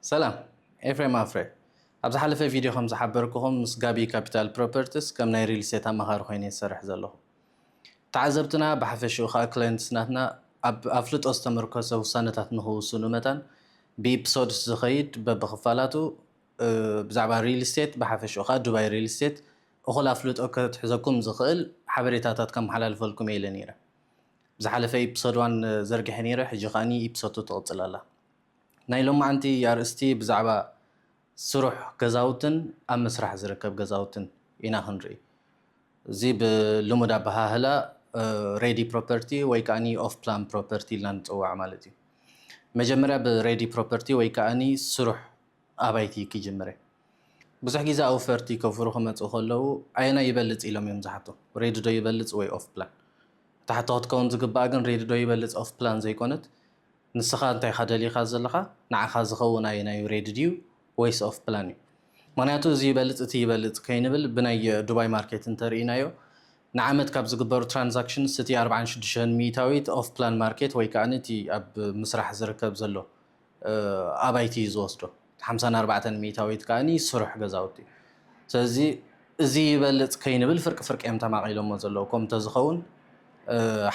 ሰላም ኤፍሬም ኣፍረ ኣብ ዝሓለፈ ቪድዮ ከም ዝሓበርኩኹም ምስ ጋቢ ካፒታል ፕሮፐርትስ ከም ናይ ሪል ስቴት ኣማኻሪ ኮይነ ዝሰርሕ ዘለኹ ተዓዘብትና ብሓፈሽኡ ከዓ ክላይንትስ ናትና ኣብ ኣፍልጦ ዝተመርኮሰ ውሳነታት ንክውስኑ መታን ብኢፕሶድስ ዝኸይድ በብክፋላቱ ብዛዕባ ሪል ስቴት ብሓፈሽኡ ከዓ ዱባይ ሪል ስቴት እኹል ኣፍልጦ ከትሕዘኩም ዝኽእል ሓበሬታታት ከመሓላልፈልኩም እየ ኢለ ነይረ ብዝሓለፈ ኢፕሶድ ዋን ዘርጊሐ ነይረ ሕጂ ከዓኒ ኢፕሶቱ ትቕፅል ኣላ ናይ ሎማዕንቲ ኣርእስቲ ብዛዕባ ስሩሕ ገዛውትን ኣብ ምስራሕ ዝርከብ ገዛውትን ኢና ክንርኢ። እዚ ብልሙድ ኣበሃህላ ሬዲ ፕሮፐርቲ ወይ ከኣኒ ኦፍ ፕላን ፕሮፐርቲ ኢልና ንጽዋዕ ማለት እዩ። መጀመርያ ብሬዲ ፕሮፐርቲ ወይ ከኣኒ ስሩሕ ኣባይቲ ክጅምረ። ብዙሕ ግዜ ኣውፈርቲ ከውፍሩ ክመጽኡ ከለዉ ኣየናይ ይበልጽ ኢሎም እዮም ዝሓቱ፣ ሬዲ ዶ ይበልጽ ወይ ኦፍ ፕላን? እታ ሕቶ ክትከውን ዝግባኣ ግን ሬዲ ዶ ይበልጽ ኦፍ ፕላን ዘይኮነት፣ ንስኻ እንታይ ኢኻ ደሊኻ ዘለኻ ንዓኻ ዝኸውን ኣየናዩ ሬዲ ድዩ ወይስ ኦፍ ፕላን እዩ ምኽንያቱ እዚ ይበልፅ እቲ ይበልፅ ከይንብል ብናይ ዱባይ ማርኬት እንተርኢናዮ ንዓመት ካብ ዝግበሩ ትራንዛክሽንስ እቲ ኣርብዓን ሽዱሽተን ሚኢታዊት ኦፍ ፕላን ማርኬት ወይ ከኣ እቲ ኣብ ምስራሕ ዝርከብ ዘሎ ኣባይቲ እዩ ዝወስዶ ሓምሳን ኣርባዕተን ሚኢታዊት ከኣ ስሩሕ ገዛውቲ እዩ። ስለዚ እዚ ይበልጽ ከይንብል ፍርቂ ፍርቂ እዮም ተማቒሎሞ ዘለዉ። ከምኡ ተዝኸውን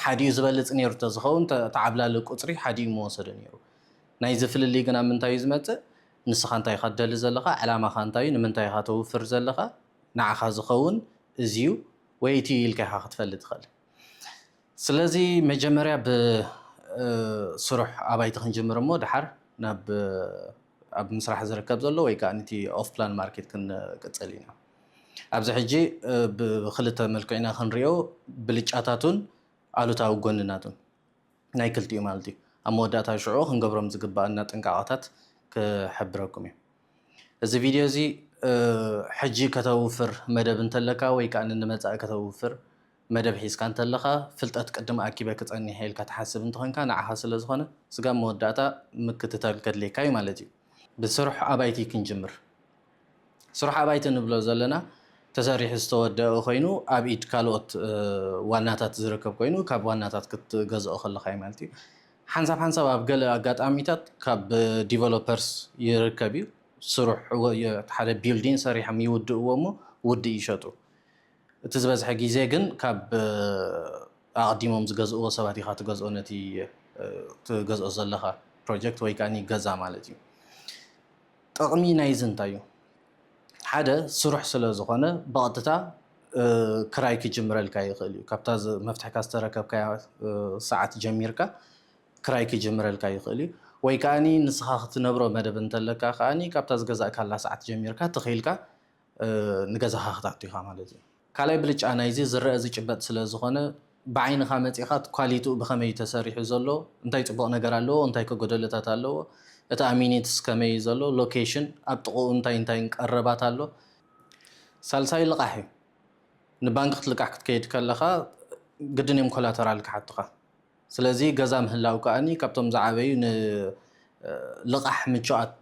ሓዲኡ ዝበልጽ ነይሩ ተዝኸውን እቲ ዓብላሊ ቁጽሪ ሓዲኡ ምወሰደ ነይሩ። ናይዚ ፍልልይ ግን ኣብ ምንታይ እዩ ዝመጽእ ንስኻ እንታይ ኢኻ ትደሊ ዘለኻ ዕላማኻ እንታይ እዩ ንምንታይ ኢኻ ተውፍር ዘለኻ ንዓኻ ዝኸውን እዚዩ ወይ እቲዩ ኢልካ ኢኻ ክትፈሊ ትኽእል። ስለዚ መጀመርያ ብስሩሕ ኣባይቲ ክንጅምር እሞ ድሓር ናብ ኣብ ምስራሕ ዝርከብ ዘሎ ወይ ከኣ ንቲ ኦፍ ፕላን ማርኬት ክንቅጽል ኢና። ኣብዚ ሕጂ ብክልተ መልክዑ ኢና ክንሪኦ ብልጫታቱን ኣሉታዊ ጎንናቱን ናይ ክልቲኡ ማለት እዩ። ኣብ መወዳእታ ሽዑ ክንገብሮም ዝግበኣና ጥንቃቐታት ክሕብረኩም እየ። እዚ ቪድዮ እዚ ሕጂ ከተውፍር መደብ እንተለካ ወይ ከኣ ንመጻኢ ከተውፍር መደብ ሒዝካ እንተለኻ ፍልጠት ቅድም ኣኪበ ክጸኒሐ ኢልካ ትሓስብ እንተኾንካ ንዓኻ ስለዝኾነ ስጋብ መወዳእታ ምክትታል ከድልየካ እዩ ማለት እዩ። ብስሩሕ ኣባይቲ ክንጅምር። ስሩሕ ኣባይቲ ንብሎ ዘለና ተሰሪሑ ዝተወደኣ ኮይኑ ኣብ ኢድ ካልኦት ዋናታት ዝርከብ ኮይኑ ካብ ዋናታት ክትገዝኦ ከለኻ እዩ ማለት እዩ። ሓንሳብ ሓንሳብ ኣብ ገለ ኣጋጣሚታት ካብ ዲቨሎፐርስ ይርከብ እዩ ስሩሕ ሓደ ቢልዲን ሰሪሖም ይውድእዎ እሞ ውድእ ይሸጡ እቲ ዝበዝሐ ግዜ ግን ካብ ኣቐዲሞም ዝገዝእዎ ሰባት ኢኻ ትገዝኦ ነቲ ትገዝኦ ዘለኻ ፕሮጀክት ወይ ከኣ ገዛ ማለት እዩ። ጠቕሚ ናይዚ እንታይ እዩ? ሓደ ስሩሕ ስለ ዝኾነ ብቐጥታ ክራይ ክጅምረልካ ይኽእል እዩ። ካብታ መፍትሕካ ዝተረከብካያ ሰዓት ጀሚርካ ክራይ ክጅምረልካ ይኽእል እዩ። ወይ ከዓኒ ንስኻ ክትነብሮ መደብ እንተለካ ከዓኒ ካብታ ዝገዛእካላ ሰዓት ጀሚርካ ተኺኢልካ ንገዛኻ ክትኣቱ ኢኻ ማለት እዩ። ካልኣይ ብልጫ ናይዚ ዝረኣ ዝጭበጥ ስለ ዝኾነ ብዓይንኻ መጺኻ ኳሊትኡ ብኸመይ እዩ ተሰሪሑ ዘሎ፣ እንታይ ጽቡቕ ነገር ኣለዎ እንታይ ከ ጎደሎታት ኣለዎ፣ እቲ ኣሚኒትስ ከመይ እዩ ዘሎ፣ ሎኬሽን፣ ኣብ ጥቕኡ እንታይ እንታይን ቀረባት ኣሎ። ሳልሳይ ልቓሕ እዩ። ንባንኪ ክትልቃሕ ክትከይድ ከለኻ ግድን እዮም ኮላተራል ክሓቱኻ። ስለዚ ገዛ ምህላው ከኣ ካብቶም ዝዓበዩ ንልቓሕ ምቹኣት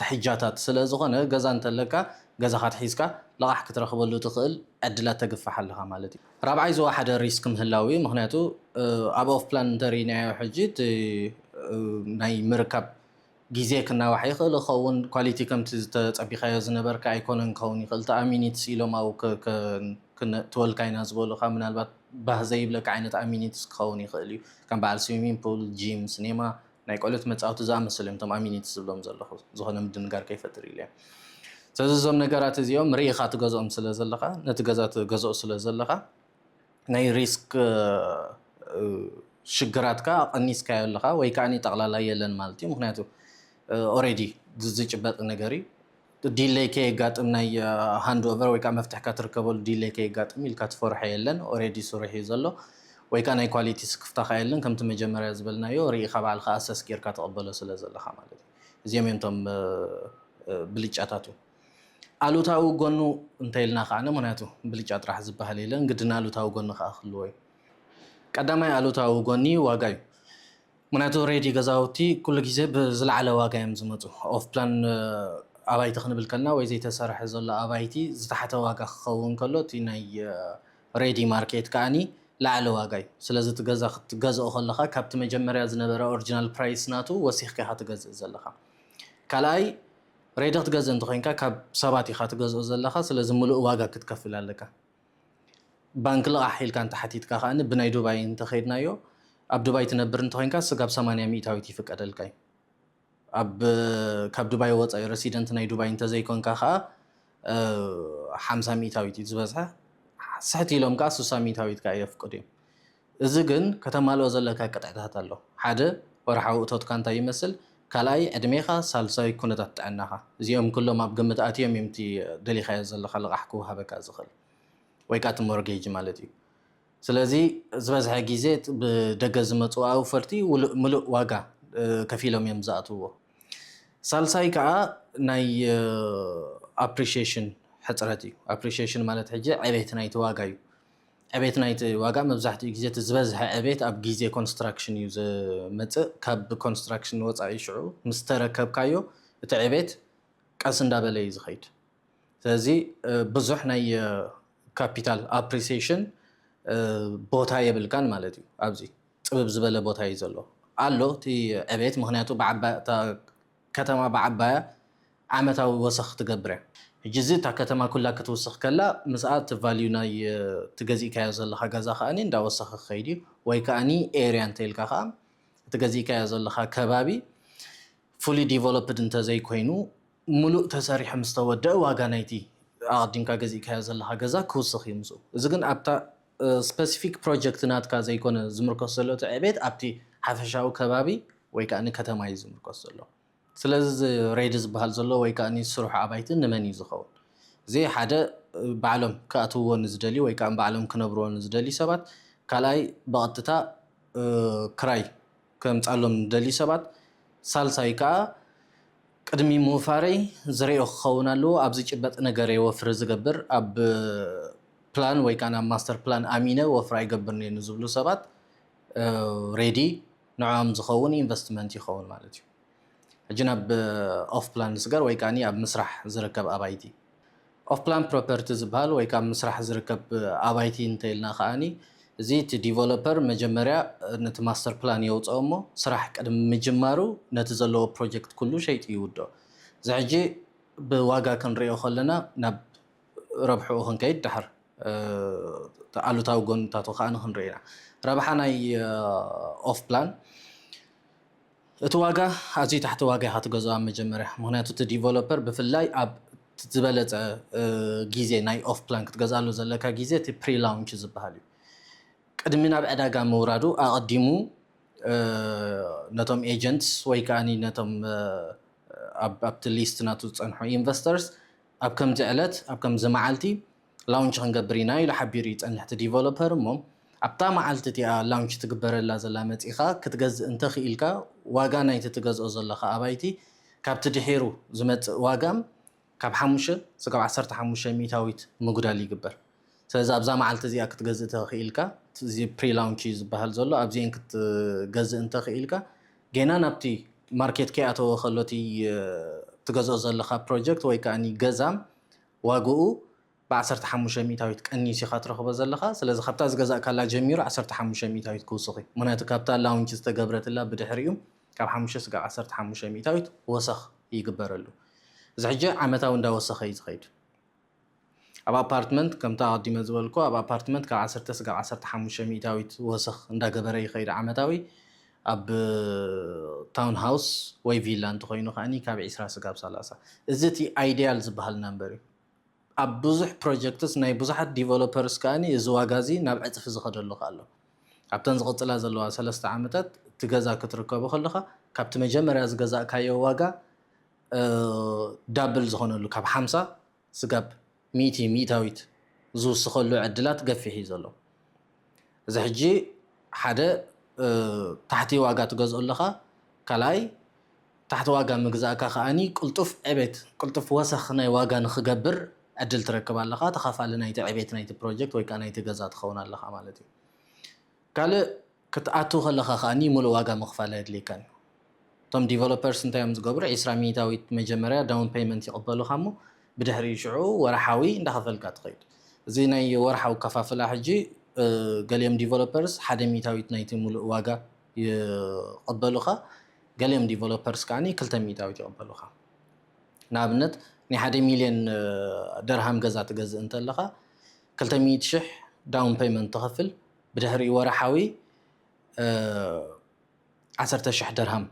ትሕጃታት ስለዝኾነ ገዛ እንተለካ ገዛኻ ኣትሒዝካ ልቓሕ ክትረኽበሉ እትኽእል ዕድላት ተግፍሕ ኣለኻ ማለት እዩ። ራብዓይ ዝወሓደ ሪስክ ምህላው እዩ። ምኽንያቱ ኣብ ኦፍፕላን እንተርኢናዮ ሕጂ እቲ ናይ ምርካብ ግዜ ክናዋሕ ይኽእል ይኸውን፣ ኳሊቲ ከምቲ ዝተጸቢኻዮ ዝነበርካ ኣይኮነን ክኸውን ይኽእል፣ እታ ኣሚኒትስ ኢሎም ኣብኡ ክነእትወልካ ኢና ዝበሉኻ ምናልባት ባህ ዘይብለካ ዓይነት ኣሚኒትስ ክኸውን ይኽእል እዩ፣ ከም በዓል ስዊሚንግ ፑል፣ ጂም፣ ስኔማ፣ ናይ ቆልዑት መጻወቲ ዝኣመሰሉ እዮም እቶም ኣሚኒትስ ዝብሎም ዘለኹ፣ ዝኾነ ምድንጋር ከይፈጥር ኢለ እየ። ስለዚ እዞም ነገራት እዚኦም ርኢኻ ትገዝኦም ስለዘለኻ፣ ነቲ ገዛ ትገዝኦ ስለዘለኻ፣ ናይ ሪስክ ሽግራት ከኣ ቀኒስካዮ ኣለኻ ወይ ከኣ ጠቕላላ የለን ማለት እዩ ምክንያቱ ኦሬዲ ዝጭበጥ ነገር እዩ ዲለይ ከየጋጥም ናይ ሃንድ ኦቨር ወይ ከኣ መፍትሕካ ትርከበሉ ዲለይ ከየጋጥም ኢልካ ትፈርሖ የለን ኦሬዲ ስሩሕ እዩ ዘሎ ወይ ከኣ ናይ ኳሊቲ ስክፍታ ከኣ የለን ከምቲ መጀመርያ ዝበልናዮ ርኢኻ ባዕልኻ ኣሰስ ጌርካ ትቕበሎ ስለ ዘለኻ ማለት እዩ እዚኦም እዮም እቶም ብልጫታቱ ኣሉታዊ ጎኑ እንተይልና ከዓነ ምክንያቱ ብልጫ ጥራሕ ዝበሃል የለን ግድን ኣሉታዊ ጎኒ ከኣ ክህልዎ እዩ። ቀዳማይ ኣሉታዊ ጎኒ ዋጋ እዩ። ምክንያቱ ሬዲ ገዛውቲ ኩሉ ግዜ ብዝለዓለ ዋጋ እዮም ዝመጹ። ኦፍ ፕላን ኣባይቲ ክንብል ከለና ወይ ዘይተሰርሐ ዘሎ ኣባይቲ ዝተሓተ ዋጋ ክኸውን ከሎ እቲ ናይ ሬዲ ማርኬት ከኣኒ ለዓለ ዋጋ እዩ። ስለዚ እቲ ገዛ ክትገዝኦ ከለኻ ካብቲ መጀመርያ ዝነበረ ኦርጅናል ፕራይስ ናቱ ወሲኽካ ኢኻ ትገዝእ ዘለኻ። ካልኣይ ሬድዮ ክትገዝእ እንተኮይንካ ካብ ሰባት ኢካ ትገዝኦ ዘለካ ስለዚ ምሉእ ዋጋ ክትከፍል ኣለካ ባንኪ ልቃሕ ኢልካ እንተሓቲትካ ከኣ ብናይ ዱባይ እንተከድናዮ ኣብ ዱባይ ትነብር እንተኮይንካ ስጋብ ሰማንያ ሚእታዊት ይፍቀደልካ እዩ ኣብ ካብ ዱባይ ወጻኢ ረሲደንት ናይ ዱባይ እንተዘይኮንካ ከኣ ሓምሳ ሚእታዊት እዩ ዝበዝሐ ስሕት ኢሎም ከኣ ሱሳ ሚእታዊት ከኣ የፍቅዱ እዮም እዚ ግን ከተማልኦ ዘለካ ቅጥዕታት ኣሎ ሓደ ወርሓዊ እቶትካ እንታይ ይመስል ካልኣይ ዕድሜኻ ሳልሳይ ኩነታት ጥዕናኻ እዚኦም ኩሎም ኣብ ግምት ኣትዮም እዮም እቲ ደሊኻዮ ዘለኻ ልቓሕ ክውሃበካ ዝኽእል ወይ ከኣ እቲ ሞርጌጅ ማለት እዩ ስለዚ ዝበዝሐ ግዜ ብደገ ዝመጹ ኣውፈርቲ ምሉእ ዋጋ ከፊሎም እዮም ዝኣትውዎ ሳልሳይ ከኣ ናይ ኣፕሪሽሽን ሕጽረት እዩ ኣፕሪሽሽን ማለት ሕጂ ዕቤት ናይቲ ዋጋ እዩ ዕቤት ናይቲ ዋጋ መብዛሕትኡ ግዜ እቲ ዝበዝሐ ዕቤት ኣብ ግዜ ኮንስትራክሽን እዩ ዝመጽእ ካብ ኮንስትራክሽን ወጻኢ ሽዑ ምስ ተረከብካዮ እቲ ዕቤት ቀስ እንዳበለ እዩ ዝኸይድ ስለዚ ብዙሕ ናይ ካፒታል ኣፕሪሲሽን ቦታ የብልካን ማለት እዩ ኣብዚ ጽብብ ዝበለ ቦታ እዩ ዘሎ ኣሎ እቲ ዕቤት ምክንያቱ ብዓባይ እታ ከተማ ብዓባያ ዓመታዊ ወሰኽ ትገብርያ ሕጂ እዚ እታ ከተማ ኩላ ክትውስኽ ከላ ምስኣ እቲ ቫልዩ ናይ እቲ ገዚእካዮ ዘለኻ ገዛ ከኣ እንዳወሰኸ ክኸይድ እዩ ወይ ከኣ ኤርያ እንተኢልካ ከኣ እቲ ገዚእካዮ ዘለኻ ከባቢ ፉሊ ዲቨሎፕድ እንተዘይኮይኑ ሙሉእ ተሰሪሑ ምስተወደኣ ዋጋ ናይቲ ኣቐዲምካ ገዚእካዮ ዘለኻ ገዛ ክውስኽ እዩ ምስኡ እዚ ግን ኣብታ ስፐሲፊክ ፕሮጀክት ናትካ ዘይኮነ ዝምርኮስ ዘሎ እቲ ዕቤት ኣብቲ ሓፈሻዊ ከባቢ ወይ ከኣ ከተማ እዩ ዝምርኮስ ዘሎ። ስለዚ እዚ ሬዲ ዝበሃል ዘሎ ወይ ከኣ ዝስርሑ ኣባይቲ ንመን እዩ ዝኸውን? እዚ ሓደ ባዕሎም ክኣትውዎ ንዝደልዩ ወይ ከኣ ባዕሎም ክነብርዎ ንዝደልዩ ሰባት፣ ካልኣይ ብቐጥታ ክራይ ከምጽኣሎም ንደልዩ ሰባት፣ ሳልሳይ ከኣ ቅድሚ ምውፋረይ ዝሬኦ ክኸውን ኣለዎ ኣብ ዝጭበጥ ነገርየ ወፍሪ ዝገብር ኣብ ፕላን ወይ ካኣ ናብ ማስተር ፕላን ኣሚነ ወፍሪ ኣይገብርንየ ንዝብሉ ሰባት ሬዲ ንዖኦም ዝኸውን ኢንቨስትመንት ይኸውን ማለት እዩ ሕጂ ናብ ኦፍ ፕላን ዝስገር ወይ ካኣ ኣብ ምስራሕ ዝርከብ ኣባይቲ ኦፍ ፕላን ፕሮፐርቲ ዝበሃል ወይ ከኣ ኣብ ምስራሕ ዝርከብ ኣባይቲ እንተኢልና ከኣ እዚ እቲ ዲቨሎፐር መጀመርያ ነቲ ማስተር ፕላን የውጽኦ እሞ ስራሕ ቅድሚ ምጅማሩ ነቲ ዘለዎ ፕሮጀክት ኩሉ ሸይጡ ይውድኦ። እዚ ሕጂ ብዋጋ ክንርእዮ ከለና ናብ ረብሕኡ ክንከይድ ድሓር እቲ ኣሉታዊ ጎንታቱ ከኣ ክንርኢ ኢና። ረብሓ ናይ ኦፍ ፕላን እቲ ዋጋ ኣዝዩ ታሕቲ ዋጋ ኢኻ ትገዝኦ ኣብ መጀመርያ ምኽንያቱ እቲ ዲቨሎፐር ብፍላይ ኣብ ዝበለጸ ግዜ ናይ ኦፍ ፕላን ክትገዝኣሉ ዘለካ ግዜ እቲ ፕሪ ላውንች ዝበሃል እዩ ቅድሚ ናብ ዕዳጋ ምውራዱ ኣቐዲሙ ነቶም ኤጀንትስ ወይ ከኣ ነቶም ኣብቲ ሊስት ናቱ ዝጸንሑ ኢንቨስተርስ ኣብ ከምዚ ዕለት ኣብ ከምዚ መዓልቲ ላውንች ክንገብር ኢና ኢሉ ሓቢሩ ይጸንሕ እቲ ዲቨሎፐር እሞ ኣብታ መዓልቲ እቲኣ ላውንች ትግበረላ ዘላ መጺእካ ክትገዝእ እንተኽኢልካ ዋጋ ናይቲ ትገዝኦ ዘለኻ ኣባይቲ ካብቲ ድሒሩ ዝመጽእ ዋጋ ካብ ሓሙሽተ ስጋብ ዓሰርተ ሓሙሽተ ሚእታዊት ምጉዳል ይግበር ስለዚ ኣብዛ መዓልቲ እዚኣ ክትገዝእ ተኽኢልካ እዚ ፕሪ ላውንች እዩ ዝበሃል ዘሎ ኣብዚኤን ክትገዝእ እንተኽኢልካ ጌና ናብቲ ማርኬት ከይኣተወ ከሎ እቲ ትገዝኦ ዘለኻ ፕሮጀክት ወይ ከኣ ገዛ ዋጋኡ ብ ዓሰርተ ሓሙሽተ ሚእታዊት ቀኒሱ ኢኻ ትረኽቦ ዘለኻ። ስለዚ ካብታ ዝገዛእካላ ጀሚሩ ዓሰርተ ሓሙሽተ ሚእታዊት ክውስኽ እዩ። ምኽንያቱ ካብታ ላውንች ዝተገብረትላ ብድሕሪኡ ካብ ሓሙሽተ ስጋብ ዓሰርተ ሓሙሽተ ሚእታዊት ወሰኽ ይግበረሉ። እዚ ሕጂ ዓመታዊ እንዳወሰኸ እዩ ዝኸይድ። ኣብ ኣፓርትመንት ከምታ ኣቐዲመ ዝበልኩ ኣብ ኣፓርትመንት ካብ ዓሰርተ ስጋብ ዓሰርተ ሓሙሽተ ሚእታዊት ወሰኽ እንዳገበረ ይኸይድ ዓመታዊ። ኣብ ታውን ሃውስ ወይ ቪላ እንተኾይኑ ከኣ ካብ ዕስራ ስጋብ ሰላሳ። እዚ እቲ ኣይድያል ዝበሃል ናምበር እዩ። ኣብ ብዙሕ ፕሮጀክትስ ናይ ብዙሓት ዲቨሎፐርስ ከኣ እዚ ዋጋ እዚ ናብ ዕጽፊ ዝኸደሉ ከኣ ኣሎ። ኣብተን ዝቕጽላ ዘለዋ ሰለስተ ዓመታት እቲ ገዛ ክትርከቦ ከለኻ ካብቲ መጀመርያ ዝገዛእካዮ ዋጋ ዳብል ዝኾነሉ ካብ ሓምሳ ስጋብ ሚእቲ ሚእታዊት ዝውስኸሉ ዕድላት ገፊሕ እዩ ዘሎ። እዚ ሕጂ ሓደ ታሕቲ ዋጋ ትገዝኦ ኣለኻ፣ ካልኣይ ታሕቲ ዋጋ ምግዛእካ ከኣ ቅልጡፍ ዕቤት፣ ቅልጡፍ ወሰኽ ናይ ዋጋ ንኽገብር ዕድል ትረክብ ኣለኻ፣ ተኻፋሊ ናይቲ ዕቤት ናይቲ ፕሮጀክት ወይ ከኣ ናይቲ ገዛ ትኸውን ኣለኻ ማለት እዩ። ካልእ። ክትኣቱ ከለኻ ከኣ ምሉእ ዋጋ ምኽፋል ኣየድልየካን እዩ። እቶም ዲቨሎፐርስ እንታይ እዮም ዝገብሩ ዕስራ ሚኢታዊት መጀመርያ ዳውን ፐይመንት ይቕበሉኻ እሞ ብድሕሪኡ ሽዑ ወርሓዊ እንዳኸፈልካ ትኸይድ። እዚ ናይ ወርሓዊ ኣከፋፍላ ሕጂ ገሊኦም ዲቨሎፐርስ ሓደ ሚኢታዊት ናይቲ ምሉእ ዋጋ ይቕበሉኻ ገሊኦም ዲቨሎፐርስ ከኣ ክልተ ሚኢታዊት ይቕበሉኻ። ንኣብነት ናይ ሓደ ሚልዮን ደርሃም ገዛ ትገዝእ እንተለኻ ክልተ ሚኢቲ ሽሕ ዳውን ፐይመንት ትኸፍል፣ ብድሕሪኡ ወርሓዊ ዓሰርተ ሽሕ ደርሃም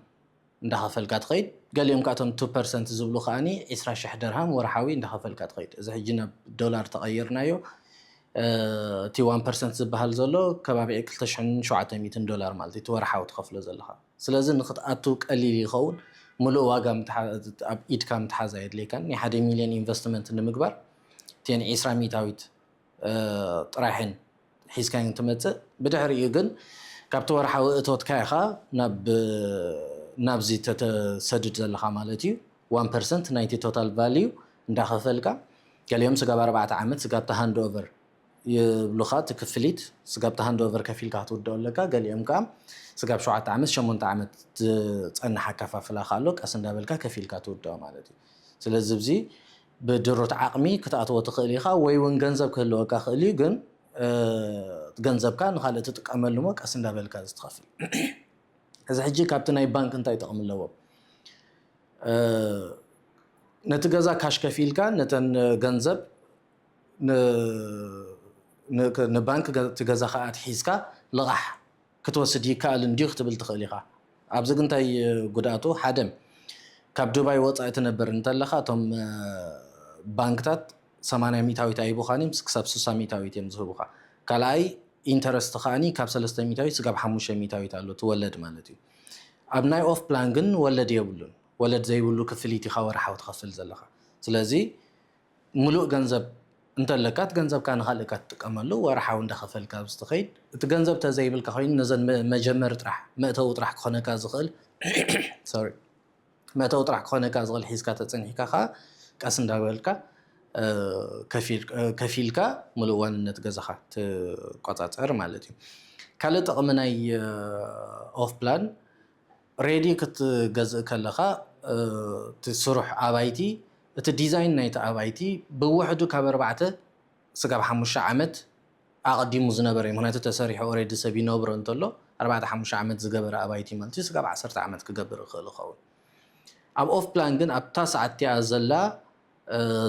እንዳኸፈልካ ትኸይድ። ገሊኦም ከኣ እቶም ቱ ፐርሰንት ዝብሉ ከኣ ዒስራ ሽሕ ደርሃም ወርሓዊ እንዳኸፈልካ ትኸይድ። እዚ ሕጂ ናብ ዶላር ተቐይርናዮ እቲ ዋን ፐርሰንት ዝበሃል ዘሎ ከባቢ ክልተ ሽሕን ሸውዓተ ሚእትን ዶላር ማለት እዩ እቲ ወርሓዊ ትኸፍሎ ዘለኻ። ስለዚ ንኽትኣቱ ቀሊል ይኸውን። ምሉእ ዋጋ ኣብ ኢድካ ምትሓዝ ኣየድልየካን። ናይ ሓደ ሚልዮን ኢንቨስትመንት ንምግባር እተን ዒስራ ሚእታዊት ጥራይ'የን ሒዝካየን ትመጽእ። ብድሕሪኡ ግን ካብቲ ወርሓዊ እቶትካ ኢኻ ናብዚ ተሰድድ ዘለኻ ማለት እዩ። ዋን ፐርሰንት ናይቲ ቶታል ቫልዩ እንዳኸፈልካ ገሊኦም ስጋብ ኣርባዕተ ዓመት ስጋብ ሃንድ ኦቨር ይብሉኻ እቲ ክፍሊት ስጋብ ሃንድ ኦቨር ከፊልካ ክትውድኦ ኣለካ ገሊኦም ከኣ ስጋብ ሸውዓተ ዓመት ሸሞንተ ዓመት ዝጸንሕ ኣከፋፍላ ከኣ ኣሎ ቀስ እንዳበልካ ከፊልካ ትውድኦ ማለት እዩ። ስለዚ እዚ ብድሩት ዓቕሚ ክትኣትዎ ትኽእል ኢኻ ወይ ውን ገንዘብ ክህልወካ ይኽእል እዩ ግን ገንዘብካ ንኻልእ ትጥቀመሉ እሞ ቀስ እንዳበልካ እዚ ትኸፍል እዚ ሕጂ ካብቲ ናይ ባንክ እንታይ ጠቕሚ ኣለዎ ነቲ ገዛ ካሽ ከፊልካ ነተን ገንዘብ ንባንክ እቲ ገዛኻ ኣትሒዝካ ልቓሕ ክትወስድ ይከኣልን ድዩ ክትብል ትኽእል ኢኻ። ኣብዚ ግን እንታይ ጉድኣቱ ሓደ ካብ ዱባይ ወጻኢ ትነብር እንተለኻ እቶም ባንክታት ሰማንያ ሚታዊት ኣይቡኻን እዮም ስክሳብ ስሳ ሚታዊት እዮም ዝህቡኻ ካልኣይ ኢንተረስት ከኣኒ ካብ ሰለስተ ሚታዊት ስጋብ ሓሙሽተ ሚታዊት ኣሎ እቲ ወለድ ማለት እዩ ኣብ ናይ ኦፍ ፕላን ግን ወለድ የብሉን ወለድ ዘይብሉ ክፍሊት ኢኻ ወርሓዊ ትኸፍል ዘለኻ ስለዚ ምሉእ ገንዘብ እንተለካ እቲ ገንዘብካ ንካልእ እካ ትጥቀመሉ ወርሓዊ እንዳከፈልካ ኣብዚ ትከይድ እቲ ገንዘብ ተዘይብልካ ኮይኑ ነዘን መጀመሪ ጥራሕ መእተዊ ጥራሕ ክኮነካ ዝክእል ሶሪ መእተዊ ጥራሕ ክኮነካ ዝክእል ሒዝካ ተጸኒሕካ ከኣ ቀስ እንዳበልካ ከፊልካ ምሉእ ዋንነት ገዛካ ትቆጻጸር ማለት እዩ ካልእ ጥቅሚ ናይ ኦፍ ፕላን ሬዲ ክትገዝእ ከለካ እቲ ስሩሕ ኣባይቲ እቲ ዲዛይን ናይቲ ኣባይቲ ብውሕዱ ካብ ኣርባዕተ ስጋብ ሓሙሽተ ዓመት ኣቐዲሙ ዝነበረ እዩ ምኽንያቱ ተሰሪሑ ኦሬዲ ሰብ ይነብሮ እንተሎ ኣርባዕተ ሓሙሽተ ዓመት ዝገበረ ኣባይቲ ማለት እዩ ስጋብ ዓሰርተ ዓመት ክገብር ይኽእል ይኸውን ኣብ ኦፍ ፕላን ግን ኣብታ ሰዓት እቲኣ ዘላ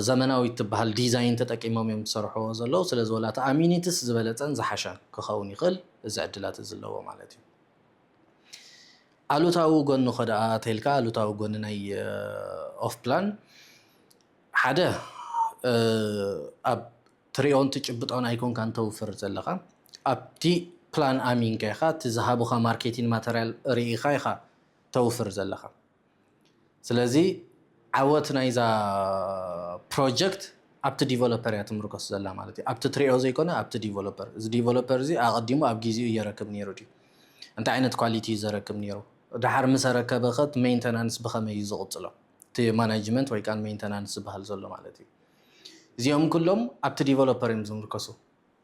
ዘመናዊት ትበሃል ዲዛይን ተጠቂሞም እዮም ዝሰርሕዎ ዘለዉ ስለዚ ወላ እቲ ኣሚኒትስ ዝበለፀን ዝሓሸን ክኸውን ይኽእል እዚ ዕድላት እዚ ኣለዎ ማለት እዩ ኣሉታዊ ጎኑ ከደኣ ተልካ ኣሉታዊ ጎኒ ናይ ኦፍ ፕላን ሓደ ኣብ ትሪኦን ትጭብጦን ኣይኮንካን ተውፍር ዘለኻ ኣብቲ ፕላን ኣሚንካ ኢኻ እቲ ዝሃቡኻ ማርኬቲን ማተርያል ሪኢኻ ኢኻ ተውፍር ዘለኻ ስለዚ ዓወት ናይዛ ፕሮጀክት ኣብቲ ዲቨሎፐር እያ ትምርኮስ ዘላ ማለት እዩ። ኣብቲ ትሪኦ ዘይኮነ ኣብቲ ዲቨሎፐር። እዚ ዲቨሎፐር እዚ ኣቐዲሙ ኣብ ጊዜኡ እየረክብ ነይሩ ድዩ? እንታይ ዓይነት ኳሊቲ እዩ ዘረክብ ነይሩ? ደሓር ምስ ኣረከበ ከ እቲ ሜንተናንስ ብኸመይ እዩ ዝቕጽሎ? እቲ ማናጅመንት ወይ ከኣ ሜንተናንስ ዝበሃል ዘሎ ማለት እዩ። እዚኦም ኩሎም ኣብቲ ዲቨሎፐር እዮም ዝምርኮሱ።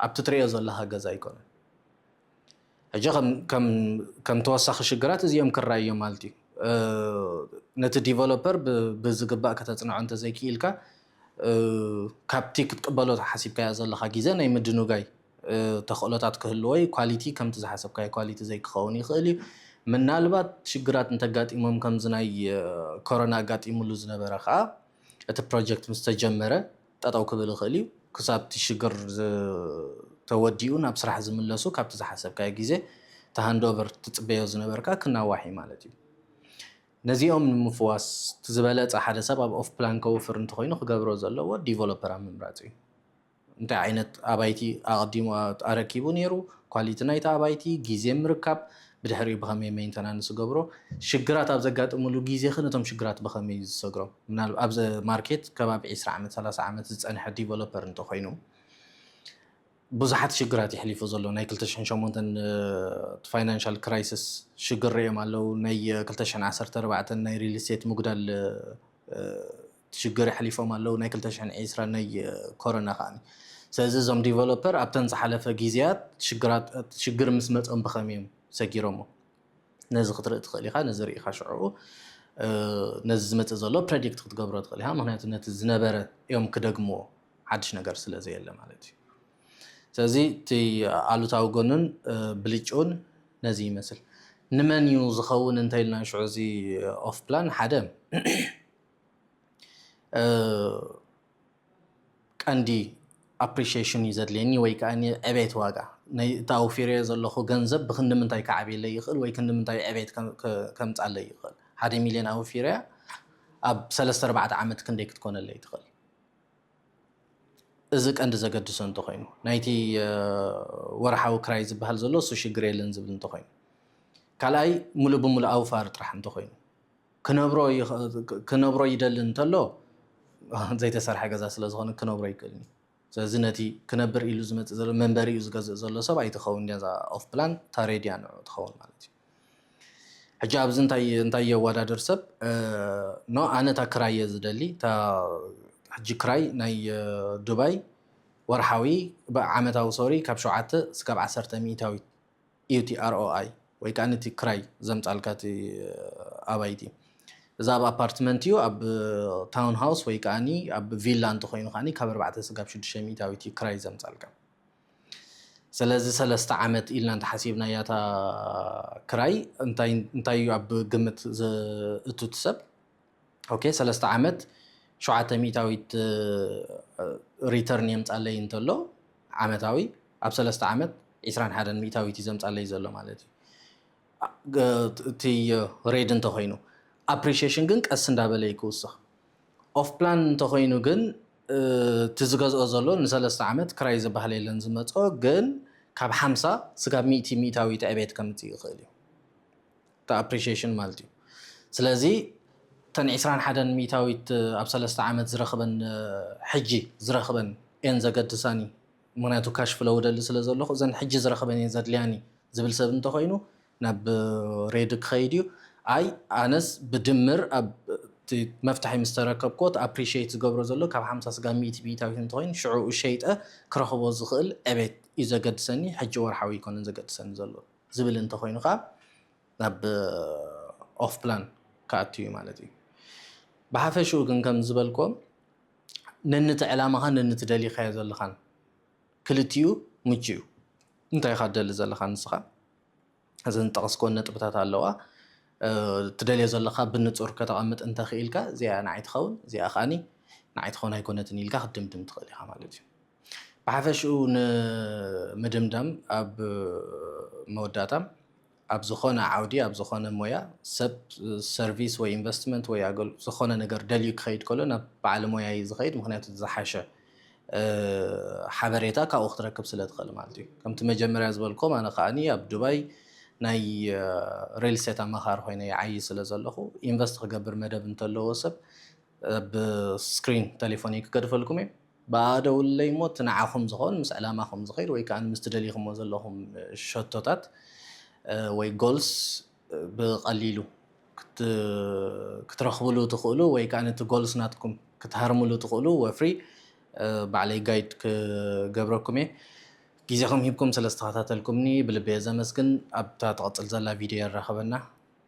ኣብቲ ትሪኦ ዘለኻ ገዛ ኣይኮነን። ሕጂ ከም ተወሳኺ ሽግራት እዚኦም ክራኣዩ እዮም ማለት እዩ። ነቲ ዲቨሎፐር ብዝግባእ ከተጽንዖ እንተዘይክኢልካ ካብቲ ክትቅበሎ ሓሲብካዮ ዘለኻ ግዜ ናይ ምድንጓይ ተኽእሎታት ክህልዎ እዩ። ኳሊቲ ከምቲ ዝሓሰብካዮ ኳሊቲ ዘይክኸውን ይኽእል እዩ። ምናልባት ሽግራት እንተጋጢሞም ከምዚ ናይ ኮሮና ኣጋጢምሉ ዝነበረ ከኣ እቲ ፕሮጀክት ምስተጀመረ ጠጠው ክብል ይኽእል እዩ። ክሳብ እቲ ሽግር ተወዲኡ ናብ ስራሕ ዝምለሱ ካብቲ ዝሓሰብካዮ ግዜ እቲ ሃንድኦቨር ትፅበዮ ዝነበርካ ክናዋሕ እዩ ማለት እዩ። ነዚኦም ንምፍዋስ እቲ ዝበለፀ ሓደ ሰብ ኣብ ኦፍ ፕላን ከውፍር እንተኾይኑ ክገብሮ ዘለዎ ዲቨሎፐር ኣብ ምምራፅ እዩ። እንታይ ዓይነት ኣባይቲ ኣቐዲሙ ኣረኪቡ ነይሩ፣ ኳሊቲ ናይቲ ኣባይቲ፣ ግዜ ምርካብ፣ ብድሕሪኡ ብኸመይ ሜይንተናንስ ዝገብሮ፣ ሽግራት ኣብ ዘጋጥምሉ ግዜኸ ነቶም ሽግራት ብኸመይ እዩ ዝሰግሮም? ምናል ኣብዚ ማርኬት ከባቢ ዕስራ ዓመት ሰላሳ ዓመት ዝጸንሐ ዲቨሎፐር እንተኾይኑ ብዙሓት ሽግራት እዩ ኣሕሊፉ ዘሎ። ናይ ክልተ ሽሕን ሸሞንተን እቲ ፋይናንሻል ክራይስስ ሽግር ርእዮም ኣለዉ። ናይ ክልተ ሽሕን ዓሰርተ ኣርባዕተን ናይ ሪል ስቴት ምጉዳል እቲ ሽግር የሕሊፎም ኣለዉ ናይ ክልተ ሽሕን ዒስራን ናይ ኮረና ከኣ ስለዚ እዞም ዲቨሎፐር ኣብተን ዝሓለፈ ግዜያት ሽግራት ሽግር ምስ መጾም ብኸመይ እዮም ሰጊሮሞ ነዚ ክትርኢ ትኽእል ኢኻ ነዚ ርኢኻ ሽዑ ነዚ ዝመጽእ ዘሎ ፕሬዲክት ክትገብሮ ትኽእል ኢኻ ምክንያቱ ነቲ ዝነበረ እዮም ክደግምዎ ሓድሽ ነገር ስለ ዘየለ ማለት እዩ ስለዚ እቲ ኣሉታዊ ጎኑን ብልጭኡን ነዚ ይመስል ንመን እዩ ዝኸውን እንተኢልና ሽዑ እዚ ኦፍ ፕላን ሓደ ቀንዲ ኣፕሪሺየሽን እዩ ዘድልየኒ ወይ ከዓ ዕቤት ዋጋ ናይ እቲ ኣውፊረዮ ዘለኹ ገንዘብ ብክንዲ ምንታይ ክዓብየለይ ይኽእል ወይ ክንዲ ምንታይ ዕቤት ከምፃለይ ይኽእል ሓደ ሚልዮን ኣውፊረያ ኣብ ሰለስተ ኣርባዕተ ዓመት ክንደይ ክትኮነለይ ትኽእል እዚ ቀንዲ ዘገድሶ እንተኮይኑ ናይቲ ወርሓዊ ክራይ ዝበሃል ዘሎ እሱ ሽግር የለን ዝብል እንተኮይኑ ካልኣይ ሙሉእ ብሙሉእ ኣውፋር ጥራሕ እንተኮይኑ ክነብሮ ክነብሮ ይደሊ እንተሎ ዘይተሰርሐ ገዛ ስለ ዝኾነ ክነብሮ ኣይክእልን እዩ። ስለዚ ነቲ ክነብር ኢሉ ዝመጽእ ዘሎ መንበሪኡ ዝገዝእ ዘሎ ሰብ ኣይትኸውን እያ እዛ ኦፍ ፕላን እታ ሬድ እያ ንዕኡ ትኸውን ማለት እዩ። ሕጂ ኣብዚ እንታይ እንታይ የወዳድር ሰብ ኖ ኣነ እታ ክራይ እየ ዝደሊ እታ ሕጂ ክራይ ናይ ዱባይ ወርሓዊ ዓመታዊ ሶሪ ካብ ሸውዓተ ስካብ ዓሰርተ ሚእታዊት እዩ እቲ ROI ወይ ከኣ ነቲ ክራይ ዘምጻልካ እቲ ኣባይቲ። እዛ ኣብ ኣፓርትመንት እዩ ኣብ ታውን ሃውስ ወይ ከኣ ኣብ ቪላ እንተኾይኑ ከኣ ካብ ኣርባዕተ ስጋብ ሽዱሽተ ሚእታዊት እዩ ክራይ ዘምጻልካ። ሰለዚ ሰለስተ ዓመት ኢልና እንተሓሲብናያ እታ ክራይ እንታይ እንታይ እዩ ኣብ ግምት ዘእቱ እቲ ሰብ? ኦኬ ሰለስተ ዓመት ሸውዓተ ሚእታዊት ሪተርን የምፃለይ እንተሎ ዓመታዊ ኣብ ሰለስተ ዓመት ዒስራን ሓደን ሚእታዊት እዩ ዘምፃለይ ዘሎ ማለት እዩ እቲ ሬድ እንተኮይኑ ኣፕሪሽሽን ግን ቀስ እንዳበለ እዩ ክውስኽ ኦፍ ፕላን እንተኮይኑ ግን እቲ ዝገዝኦ ዘሎ ንሰለስተ ዓመት ክራይ ዝበሃል የለን ዝመፅኦ ግን ካብ ሓምሳ ስጋብ ሚእቲ ሚእታዊት ዕቤት ከምፅእ ይኽእል እዩ እቲ ኣፕሪሽየሽን ማለት እዩ። ስለዚ እተን ዕስራን ሓደን ሚኢታዊት ኣብ ሰለስተ ዓመት ዝረኽበን ሕጂ ዝረኽበን እየን ዘገድሳኒ ምኽንያቱ ካሽ ፍለው እደሊ ስለ ዘለኹ እዘን ሕጂ ዝረኽበን እየን ዘድልያኒ ዝብል ሰብ እንተኾይኑ ናብ ሬድ ክኸይድ እዩ። ኣይ ኣነስ ብድምር ኣብ እቲ መፍትሒ ምስ ተረከብኩዎ እቲ ኣፕሪሽየት ዝገብሮ ዘሎ ካብ ሓምሳ ስጋብ ሚእቲ ሚኢታዊት እንተኾይኑ ሽዑኡ ሸይጠ ክረኽቦ ዝኽእል ዕቤት እዩ ዘገድሰኒ ሕጂ ወርሓዊ ኣይኮነን ዘገድሰኒ ዘሎ። ዝብል እንተኾይኑ ከኣ ናብ ኦፍ ፕላን ክኣቱ እዩ ማለት እዩ። ብሓፈሽኡ ግን ከም ዝበልክዎ ነንት ዕላማኻን ነንት ደሊኻዮ ዘለኻን ክልቲኡ ምቹ እዩ። እንታይ ኢኻ ትደሊ ዘለኻ ንስኻ እዘን ዝጠቐስክወን ነጥብታት ኣለዋ። ትደልዮ ዘለኻ ብንጹር ከተቐምጥ እንተኽኢልካ እዚኣ ንዓይ ትኸውን እዚኣ ከኣኒ ንዓይ ትኸውን ኣይኮነትን ኢልካ ክትድምድም ትኽእል ኢኻ ማለት እዩ። ብሓፈሽኡ ንምድምዳም ኣብ መወዳእታ ኣብ ዝኾነ ዓውዲ ኣብ ዝኾነ ሞያ ሰብ ሰርቪስ ወይ ኢንቨስትመንት ወይ ዝኾነ ነገር ደልዩ ክኸይድ ከሎ ናብ በዓል ሞያ እዩ ዝኸይድ ምክንያቱ ዝሓሸ ሓበሬታ ካብኡ ክትረክብ ስለ ትኽእል ማለት እዩ ከምቲ መጀመርያ ዝበልኩም ኣነ ከዓኒ ኣብ ዱባይ ናይ ሪል ስቴት ኣማኻሪ ኮይነ ይዓይ ስለ ዘለኹ ኢንቨስት ክገብር መደብ እንተለዎ ሰብ ብስክሪን ቴሌፎን ክገድፈልኩም እየ ብኣኣ ደውልለይ እሞ እቲ ንዓኹም ዝኸውን ምስ ዕላማኹም ዝኸይድ ወይ ከኣ ምስቲ ደሊኹሞ ዘለኹም ሸቶታት ወይ Goals ብቐሊሉ ክትረኽብሉ ትኽእሉ ወይ ከኣ ነቲ Goals ናትኩም ክትሃርምሉ ትኽእሉ ወፍሪ ባዕለይ ጋይድ ክገብረኩም እየ። ግዜኹም ሂብኩም ስለ ዝተኸታተልኩምኒ ብልቢ'የ ዘመስግን። ኣብታ ትቕጽል ዘላ ቪድዮ የራኽበና።